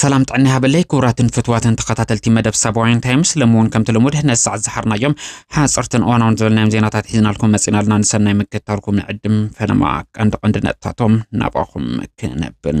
ሰላም ጥዕና ሃበለይ ክቡራትን ፍትዋትን ተኸታተልቲ መደብ ሳባውያን ታይምስ ሎሚ እውን ከምቲ ልሙድ ነዚ ሰዓት ዝሓርናዮም ሓፀርትን እዋናውን ዝበልናዮም ዜናታት ሒዝናልኩም መፂና ኣለና ንሰናይ ምክትታልኩም ንዕድም ፈለማ ቀንዲ ቀንዲ ነጥብታቶም ናባኹም ክነብል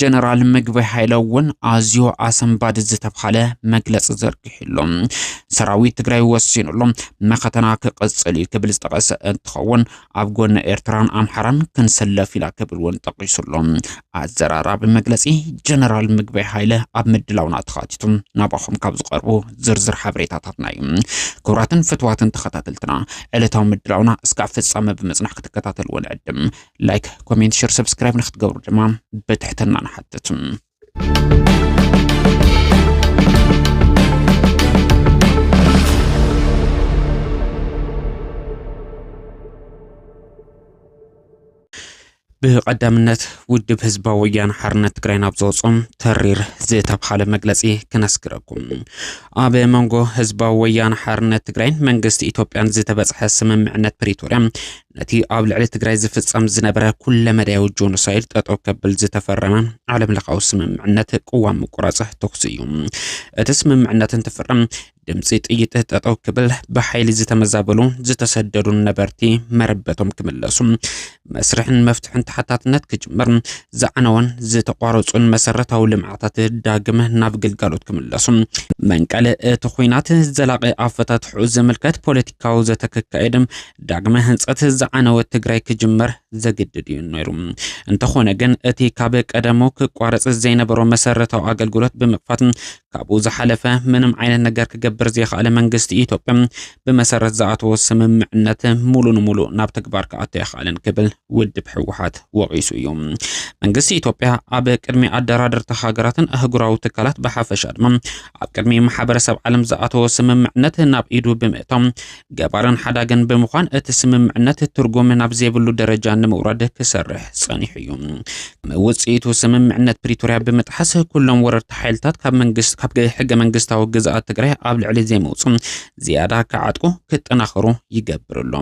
ጀነራል ምግበይ ሃይለ እውን ኣዝዮ ኣሰንባዲ ዝተብሃለ መግለፂ ዘርጊሕሉ ሰራዊት ትግራይ ወሲኑሉ መኸተና ክቕፅል እዩ ክብል ዝጠቐሰ እንትኸውን ኣብ ጎኒ ኤርትራን ኣምሓራን ክንሰለፍ ኢና ክብል እውን ጠቒሱሉ። ኣዘራራቢ መግለፂ ጀነራል ምግበይ ሃይለ ኣብ ምድላውና ተኻቲቱ ናባኹም ካብ ዝቐርቡ ዝርዝር ሓበሬታታትና እዩ። ክቡራትን ፍትዋትን ተኸታተልትና ዕለታዊ ምድላውና እስካብ ፍፃመ ብምፅናሕ ክትከታተልዎ ንዕድም። ላይክ ኮሜንት ሸር ሰብስክራይብ ንክትገብሩ ድማ ብትሕትና ንሓትት ብቐዳምነት ውድብ ህዝባዊ ወያነ ሓርነት ትግራይ ናብ ዘወፅኦም ተሪር ዝተብሃለ መግለፂ ክነስግረኩም ኣብ መንጎ ህዝባዊ ወያነ ሓርነት ትግራይን መንግስቲ ኢትዮጵያን ዝተበፅሐ ስምምዕነት ፕሪቶርያ ነቲ ኣብ ልዕሊ ትግራይ ዝፍጸም ዝነበረ ኩለመዳያዊ ጆኖሳይድ ጠጠው ከብል ዝተፈረመ ዓለም ለኻዊ ስምምዕነት ቅዋም ምቁራጽ ተኹሲ እዩ። እቲ ስምምዕነት እንትፍረም ድምፂ ጥይት ጠጠው ክብል ብሓይሊ ዝተመዛበሉ ዝተሰደዱን ነበርቲ መረበቶም ክምለሱ መስርሕን መፍትሕን ተሓታትነት ክጅምር ዝዓነወን ዝተቋረፁን መሰረታዊ ልምዓታት ዳግም ናብ ግልጋሎት ክምለሱ መንቀሊ እቲ ኩናት ዘላቂ ኣፈታትሑ ዝምልከት ፖለቲካዊ ዘተ ክካየድ ዳግመ ህንፀት ዝዓነወት ትግራይ ክጅመር ዘግድድ እዩ ነይሩ። እንተኾነ ግን እቲ ካብ ቀደሙ ክቋረፅ ዘይነበሮ መሰረታዊ ኣገልግሎት ብምክፋት ካብኡ ዝሓለፈ ምንም ዓይነት ነገር ክገብር ዘይኸኣለ መንግስቲ ኢትዮጵያ ብመሰረት ዝኣተዎ ስምምዕነት ሙሉ ንሙሉእ ናብ ተግባር ክኣቶ ኣይኸኣለን ክብል ውድብ ህወሓት ወቒሱ እዩ። መንግስቲ ኢትዮጵያ ኣብ ቅድሚ ኣደራደርቲ ሃገራትን ኣህጉራዊ ትካላት ብሓፈሻ ድማ ኣብ ቅድሚ ማሕበረሰብ ዓለም ዝኣተዎ ስምምዕነት ናብ ኢዱ ብምእታው ገባርን ሓዳግን ብምዃን እቲ ስምምዕነት ትርጉም ናብ ዘይብሉ ደረጃ ንምውራድ ክሰርሕ ጸኒሑ እዩ። ውጽኢቱ ስምምዕነት ፕሪቶርያ ብምጥሓስ ኩሎም ወረርቲ ሓይልታት ካብ መንግስት ካብ ሕገ መንግስታዊ ግዝኣት ትግራይ ኣብ ልዕሊ ዘይመውጹ ዝያዳ ክዓጥቁ ክጠናኸሩ ይገብር ኣሎ።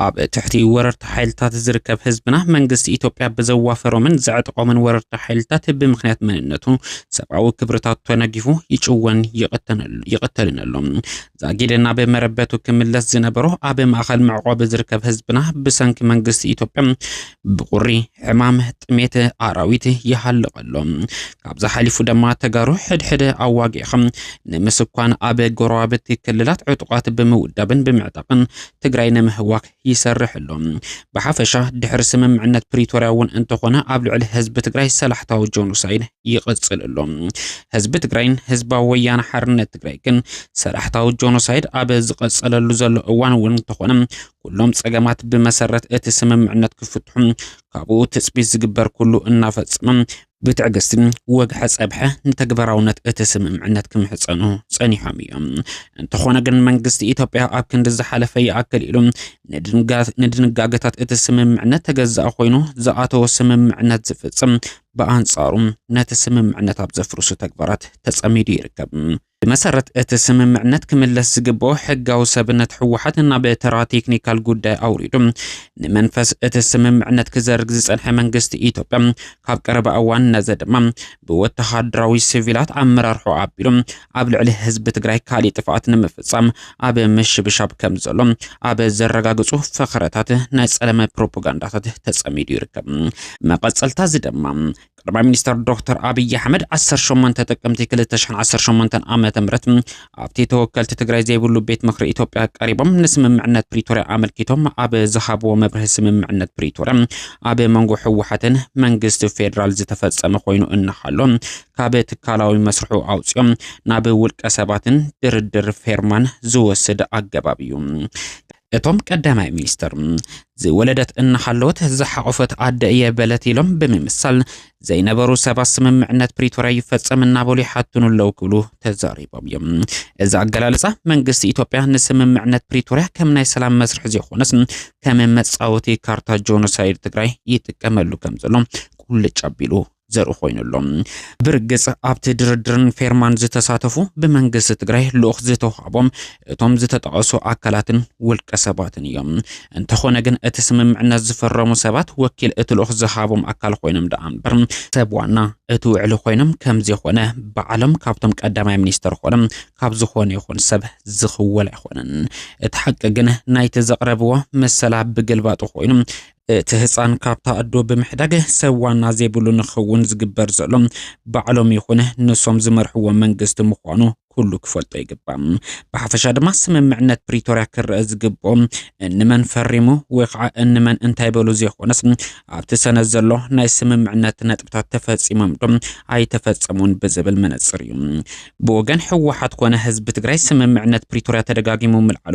ኣብ ትሕቲ ወረርቲ ሓይልታት ዝርከብ ህዝብና መንግስቲ ኢትዮጵያ ብዘዋፈሮምን ዘዕጥቆምን ወረርቲ ሓይልታት ብምክንያት መንነቱ ሰብኣዊ ክብርታቱ ተነጊፉ ይጭወን ይቕተልን ኣሎ። ዛጊድ ናብ መረበቱ ክምለስ ዝነበሮ ኣብ ማእኸል መዕቆቢ ዝርከብ ህዝብና ብሰንኪ መንግስቲ ኢትዮጵያ ብቁሪ ሕማም ጥሜት ኣራዊት ይሃልቐሎ ካብዚ ሓሊፉ ድማ ተጋሩ ሕድሕደ ኣዋጊዕኻ ንምስኳን ኣብ ጎረባብቲ ክልላት ዕጡቃት ብምውዳብን ብምዕጣቅን ትግራይ ንምህዋክ ይሰርሕ ኣሎ። ብሓፈሻ ድሕሪ ስምምዕነት ፕሪቶርያ እውን እንተኾነ ኣብ ልዕሊ ህዝቢ ትግራይ ሰላሕታዊ ጆኖሳይድ ይቕፅል ኣሎ። ህዝቢ ትግራይን ህዝባዊ ወያነ ሓርነት ትግራይ ግን ሰላሕታዊ ጆኖሳይድ ኣብ ዝቐፀለሉ ዘሎ እዋን እውን እንተኾነ ኩሎም ፀገማት ብመሰረት እቲ ስምምዕነት ክፍትሑ ካብኡ ትፅቢት ዝግበር ኩሉ እናፈፀመ ብትዕግስቲ ወግሐ ጸብሐ ንተግባራውነት እቲ ስምምዕነት ክምሕጸኑ ጸኒሖም እዮም። እንተኾነ ግን መንግስቲ ኢትዮጵያ ኣብ ክንዲ ዝሓለፈ ይኣክል ኢሉ ንድንጋገታት እቲ ስምምዕነት ተገዛእ ኮይኑ ዝኣተወ ስምምዕነት ዝፍጽም፣ ብኣንጻሩ ነቲ ስምምዕነት ኣብ ዘፍርሱ ተግባራት ተጸሚዱ ይርከብ። ብመሰረት እቲ ስምምዕነት ክምለስ ዝግበኦ ሕጋዊ ሰብነት ህወሓት ናብ ተራ ቴክኒካል ጉዳይ ኣውሪዱ ንመንፈስ እቲ ስምምዕነት ክዘርግ ዝጸንሐ መንግስቲ ኢትዮጵያ ካብ ቀረባ እዋን ነዘ ድማ ብወተሃደራዊ ሲቪላት ኣመራርሖ ኣቢሉ ኣብ ልዕሊ ህዝቢ ትግራይ ካሊእ ጥፍኣት ንምፍጻም ኣብ ምሽብሻብ ከም ዘሎ ኣብ ዘረጋግጹ ፈኸረታት ናይ ጸለመ ፕሮፓጋንዳታት ተጸሚዱ ይርከብ። መቐጸልታ እዚ ድማ ቀዳማይ ሚኒስተር ዶክተር ኣብይ ኣሕመድ 18 ጥቅምቲ 2018 ዓ ም ኣብቲ ተወከልቲ ትግራይ ዘይብሉ ቤት ምክሪ ኢትዮጵያ ቀሪቦም ንስምምዕነት ፕሪቶርያ ኣመልኪቶም ኣብ ዝሃብዎ መብርሂ ስምምዕነት ፕሪቶርያ ኣብ መንጎ ህወሓትን መንግስቲ ፌዴራል ዝተፈጸመ ኮይኑ እናሃሎ ካብ ትካላዊ መስርሑ ኣውፅኦም ናብ ውልቀ ሰባትን ድርድር ፌርማን ዝወስድ ኣገባብ እዩ እቶም ቀዳማይ ሚኒስትር ዝወለደት እናሃለወት ዝሓቖፈት ኣደ እየ በለት ኢሎም ብምምሳል ዘይነበሩ ሰባት ስምምዕነት ፕሪቶርያ ይፈጸም እናበሉ ይሓትኑ ኣለዉ ክብሉ ተዛሪቦም እዮም። እዚ ኣገላልጻ መንግስቲ ኢትዮጵያ ንስምምዕነት ፕሪቶርያ ከም ናይ ሰላም መስርሒ ዘይኮነስ ከም መጻወቲ ካርታ ጆኖሳይድ ትግራይ ይጥቀመሉ ከም ዘሎ ቁልጭ ኣቢሉ ዘርኢ ኮይኑ ኣሎ። ብርግጽ ኣብቲ ድርድርን ፌርማን ዝተሳተፉ ብመንግስቲ ትግራይ ልኡኽ ዝተውሃቦም እቶም ዝተጠቐሱ ኣካላትን ውልቀ ሰባትን እዮም። እንተኾነ ግን እቲ ስምምዕነት ዝፈረሙ ሰባት ወኪል እቲ ልኡኽ ዝሃቦም ኣካል ኮይኖም ደኣ እምበር ሰብ ዋና እቲ ውዕሊ ኮይኖም ከም ዘይኮነ ባዕሎም ካብቶም ቀዳማይ ሚኒስተር ኮነ ካብ ዝኾነ ይኹን ሰብ ዝኽወል ኣይኮነን። እቲ ሓቂ ግን ናይቲ ዘቕረብዎ መሰላ ብግልባጡ ኮይኑ እቲ ህፃን ካብታ ኣዶ ብምሕዳግ ሰብ ዋና ዘይብሉ ንክኸውን ዝግበር ዘሎ ባዕሎም ይኹን ንሶም ዝመርሕዎ መንግስቲ ምዃኑ ኩሉ ክፈልጦ ይግባእ። ብሓፈሻ ድማ ስምምዕነት ፕሪቶርያ ክረአ ዝግብኦ እንመን ፈሪሙ ወይ ከዓ እንመን እንታይ በሉ ዘይኮነስ ኣብቲ ሰነድ ዘሎ ናይ ስምምዕነት ነጥብታት ተፈፂሞም ዶ ኣይተፈፀሙን ብዝብል መነፅር እዩ። ብወገን ህወሓት ኮነ ህዝቢ ትግራይ ስምምዕነት ፕሪቶርያ ተደጋጊሙ ምልዓሉ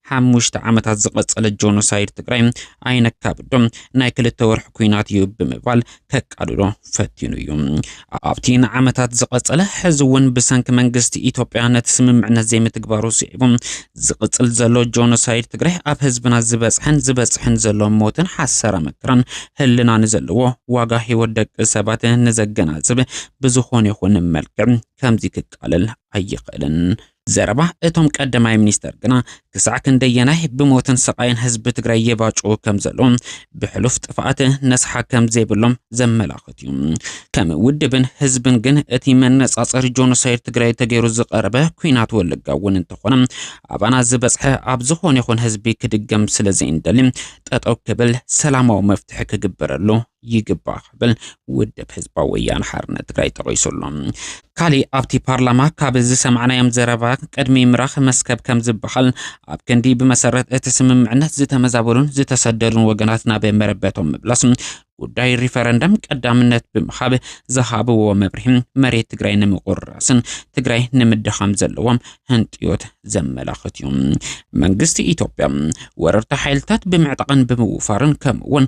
ሓሙሽተ ዓመታት ዝቐጸለ ጆኖሳይድ ትግራይ ኣይነካብዶ ናይ ክልተ ወርሒ ኩናት እዩ ብምባል ከቃልሎ ፈቲኑ እዩ። ኣብቲ ንዓመታት ዝቐጸለ ሕዚ እውን ብሰንኪ መንግስቲ ኢትዮጵያ ነቲ ስምምዕነት ዘይምትግባሩ ስዒቡ ዝቕጽል ዘሎ ጆኖሳይድ ትግራይ ኣብ ህዝብና ዝበጽሐን ዝበጽሕን ዘሎ ሞትን ሓሰራ መከራን ህልና ንዘለዎ ዋጋ ህይወት ደቂ ሰባት ንዘገናዝብ ብዝኾነ ይኹን መልክዕ ከምዚ ክቃለል ኣይኽእልን። ዘረባ እቶም ቀዳማይ ሚኒስተር ግና ክሳዕ ክንደየናይ ብሞትን ስቓይን ህዝቢ ትግራይ የባጭዉ ከም ዘሎ ብሕሉፍ ጥፍኣት ነስሓ ከም ዘይብሎም ዘመላኽት እዩ። ከም ውድብን ህዝብን ግን እቲ መነጻጸሪ ጆኖሳይድ ትግራይ ተገይሩ ዝቐረበ ኩናት ወለጋ እውን እንተኾነ ኣባና ዝበጽሐ ኣብ ዝኾነ ይኹን ህዝቢ ክድገም ስለ ዘይንደሊ ጠጠው ክብል ሰላማዊ መፍትሒ ክግበረሉ ይግባእ ክብል ውድብ ህዝባዊ ወያነ ሓርነት ትግራይ ጠቒሱ ኣሎ። ካሊእ ኣብቲ ፓርላማ ካብ ዝሰማዕናዮም ዘረባ ቅድሚ ምራኽ መስከብ ከም ዝበሃል ኣብ ክንዲ ብመሰረት እቲ ስምምዕነት ዝተመዛበሉን ዝተሰደዱን ወገናት ናብ መረበቶም ምብላስ ጉዳይ ሪፈረንደም ቀዳምነት ብምሃብ ዝሃብዎ መብርሂ መሬት ትግራይ ንምቁርራስን ትግራይ ንምድኻም ዘለዎም ህንጥዮት ዘመላኽት እዩ። መንግስቲ ኢትዮጵያ ወረርቲ ሓይልታት ብምዕጣቕን ብምውፋርን ከምኡውን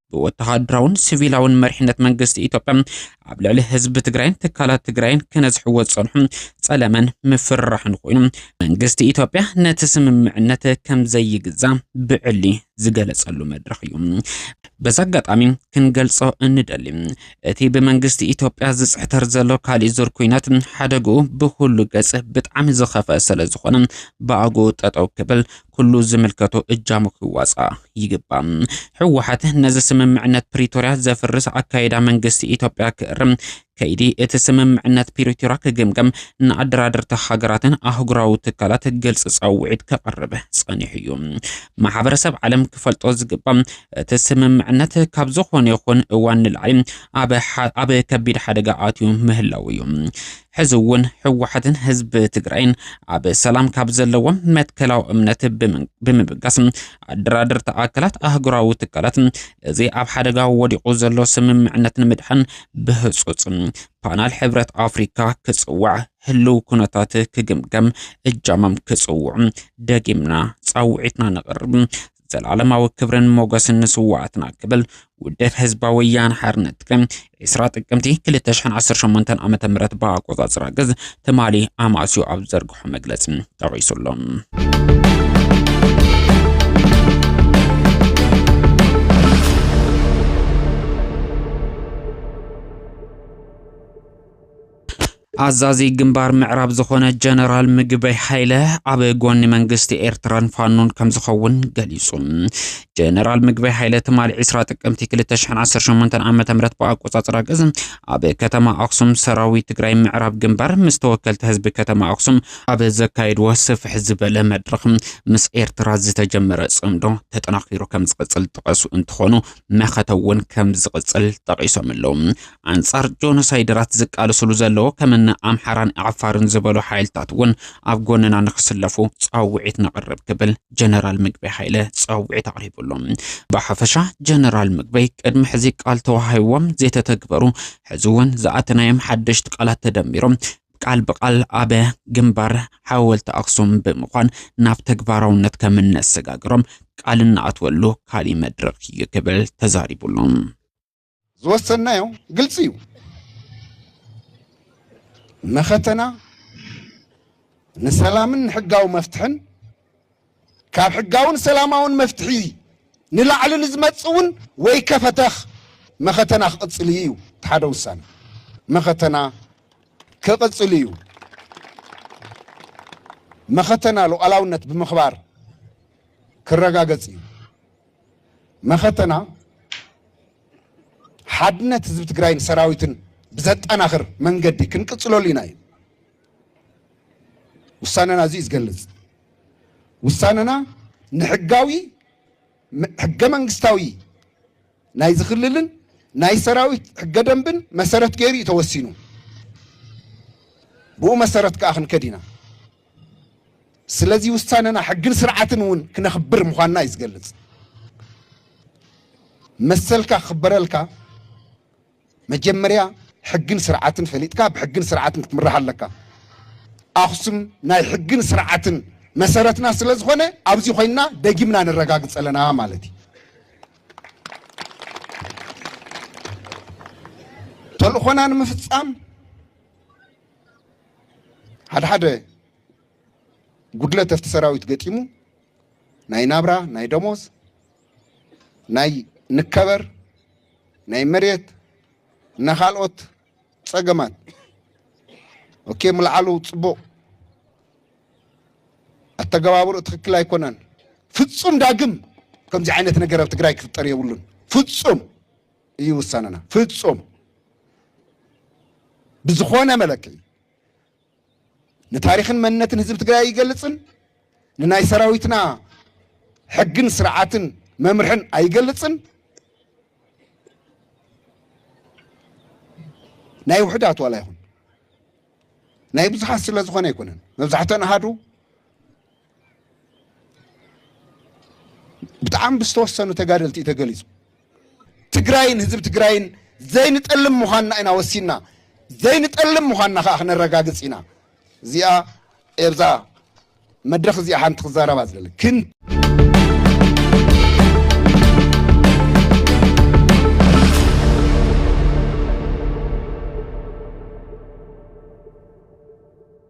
ብወተሃደራውን ሲቪላውን መሪሕነት መንግስቲ ኢትዮጵያ ኣብ ልዕሊ ህዝቢ ትግራይን ትካላት ትግራይን ክነዝሕዎ ዝጸንሑ ጸለመን ምፍርራሕን ኮይኑ መንግስቲ ኢትዮጵያ ነቲ ስምምዕነት ከም ዘይግዛ ብዕሊ ዝገለጸሉ መድረኽ እዩ። በዚ ኣጋጣሚ ክንገልጾ እንደሊ እቲ ብመንግስቲ ኢትዮጵያ ዝጽሕተር ዘሎ ካሊእ ዙር ኩናት ሓደግኡ ብኩሉ ገጽ ብጣዕሚ ዝኸፈ ስለ ዝኾነ ብኣግኡ ጠጠው ክብል ኩሉ ዝምልከቶ እጃሙ ክዋፃእ ይግባእ። ህወሓት ነዚ ስምምዕነት ፕሪቶርያ ዘፍርስ ኣካይዳ መንግስቲ ኢትዮጵያ ክእርም፣ ከይዲ እቲ ስምምዕነት ፕሪቶርያ ክግምገም፣ ንኣደራደርቲ ሃገራትን ኣህጉራዊ ትካላት ግልፂ ፃውዒት ከቕርብ ፀኒሑ እዩ። ማሕበረሰብ ዓለም ክፈልጦ ዝግባእ እቲ ስምምዕነት ካብ ዝኾነ ይኹን እዋን ንላዕሊ ኣብ ከቢድ ሓደጋ ኣትዩ ምህላው እዩ። ሕዚ እውን ህወሓትን ህዝቢ ትግራይን ኣብ ሰላም ካብ ዘለዎም መትከላዊ እምነት ብምብጋስ ኣደራደርቲ ኣካላት ኣህጉራዊ ትካላት እዚ ኣብ ሓደጋ ወዲቑ ዘሎ ስምምዕነት ንምድሓን ብህፁፅ ፓናል ሕብረት ኣፍሪካ ክፅዋዕ ህልው ኩነታት ክግምገም እጃሞም ክፅውዑ ደጊምና ፃውዒትና ነቕርብ። ዘልኣለማዊ ክብርን ሞገስን ንስዋኣትና ክብል ውድብ ህዝባዊ ወያነ ሓርነት ትግራይ ዕስራ ጥቅምቲ 2018 ዓ.ም ብኣቆጻጽራ ግዝ ትማሊ ኣማእስዮ ኣብ ዝዘርግሖ መግለጺ ጠቒሱ ኣሎ። ኣዛዚ ግንባር ምዕራብ ዝኾነ ጀነራል ምግበይ ሃይለ ኣብ ጎኒ መንግስቲ ኤርትራን ፋኖን ከም ዝኸውን ገሊጹ። ጀነራል ምግበይ ሃይለ ትማሊ 20 ጥቅምቲ 2018 ዓ ም ብኣቆጻጽራ ግዝ ኣብ ከተማ ኣክሱም ሰራዊት ትግራይ ምዕራብ ግንባር ምስ ተወከልቲ ህዝቢ ከተማ ኣክሱም ኣብ ዘካየድዎ ስፍሕ ዝበለ መድረኽ ምስ ኤርትራ ዝተጀመረ ጽምዶ ተጠናኺሩ ከም ዝቕጽል ጠቐሱ እንትኾኑ መኸተ እውን ከም ዝቕጽል ጠቒሶም ኣለዉ። ኣንጻር ጆኖሳይደራት ዝቃለስሉ ዘለዎ ከምነ ኣምሓራን ዓፋርን ዝበሉ ሓይልታት እውን ኣብ ጎንና ንክስለፉ ጻውዒት ነቕርብ ክብል ጀነራል ምግበይ ሃይለ ጻውዒት ኣቕሪቡሉ። ብሓፈሻ ጀነራል ምግበይ ቅድሚ ሕዚ ቃል ተዋሂዎም ዘይተተግበሩ ሕዚ እውን ዝኣተናዮም ሓደሽቲ ቃላት ተደሚሮም ቃል ብቃል ኣብ ግንባር ሓወልቲ ኣክሱም ብምኳን ናብ ተግባራውነት ከም እነሰጋግሮም ቃል እናኣትወሉ ካሊእ መድረኽ እዩ ክብል ተዛሪቡሎም። ዝወሰንናዮ ግልፂ እዩ። መኸተና ንሰላምን ንሕጋዊ መፍትሕን ካብ ሕጋውን ሰላማውን መፍትሒ ንላዕሊ ንዝመፅ እውን ወይ ከፈተኽ መኸተና ክቕፅል እዩ እዩ እቲ ሓደ ውሳነ መኸተና ክቕፅል እዩ። መኸተና ሉዓላውነት ብምኽባር ክረጋገፅ እዩ። መኸተና ሓድነት ህዝቢ ትግራይን ሰራዊትን ብዘጠናኽር መንገዲ ክንቅፅለሉ ኢና እዩ ውሳነና እዙይ ዝገልፅ ውሳነና ንሕጋዊ ሕገ መንግስታዊ ናይ ዝክልልን ናይ ሰራዊት ሕገ ደንብን መሰረት ገይሩ እዩ ተወሲኑ ብኡ መሰረት ከዓ ክንከድ ኢና ስለዚ ውሳነና ሕግን ስርዓትን እውን ክነኽብር ምዃንና እዩ ዝገልጽ። መሰልካ ክኽበረልካ መጀመርያ ሕግን ስርዓትን ፈሊጥካ ብሕግን ስርዓትን ክትምራሕ ኣለካ። ኣኽሱም ናይ ሕግን ስርዓትን መሰረትና ስለ ዝኾነ ኣብዚ ኮይንና ደጊምና ነረጋግፅ ኣለና ማለት እዩ። ተልእኾና ንምፍፃም ሓደ ሓደ ጉድለት ኣብቲ ሰራዊት ገጢሙ ናይ ናብራ ናይ ደሞዝ ናይ ንከበር ናይ መሬት እና ካልኦት ፀገማት ኦኬ ምልዓሉ ፅቡቕ ኣተገባብሩ ትክክል ኣይኮነን። ፍፁም ዳግም ከምዚ ዓይነት ነገር ኣብ ትግራይ ክፍጠር የብሉን ፍፁም እዩ ውሳነና። ፍፁም ብዝኾነ መለክዒ ንታሪኽን መንነትን ህዝቢ ትግራይ ኣይገልፅን፣ ንናይ ሰራዊትና ሕግን ስርዓትን መምርሕን ኣይገልፅን፣ ናይ ውሕዳት ዋላ ይኹን ናይ ብዙሓት ስለ ዝኾነ ኣይኮነን መብዛሕተን ኣሃዱ ብጣዕሚ ብዝተወሰኑ ተጋደልቲ እዩ ተገሊፁ። ትግራይን ህዝቢ ትግራይን ዘይንጠልም ምዃንና ኢና ወሲንና ዘይንጠልም ምዃንና ከዓ ክነረጋግፅ ኢና። እዚኣ ኤብዛ መድረኽ እዚኣ ሓንቲ ክዛረባ ዝደለ ግን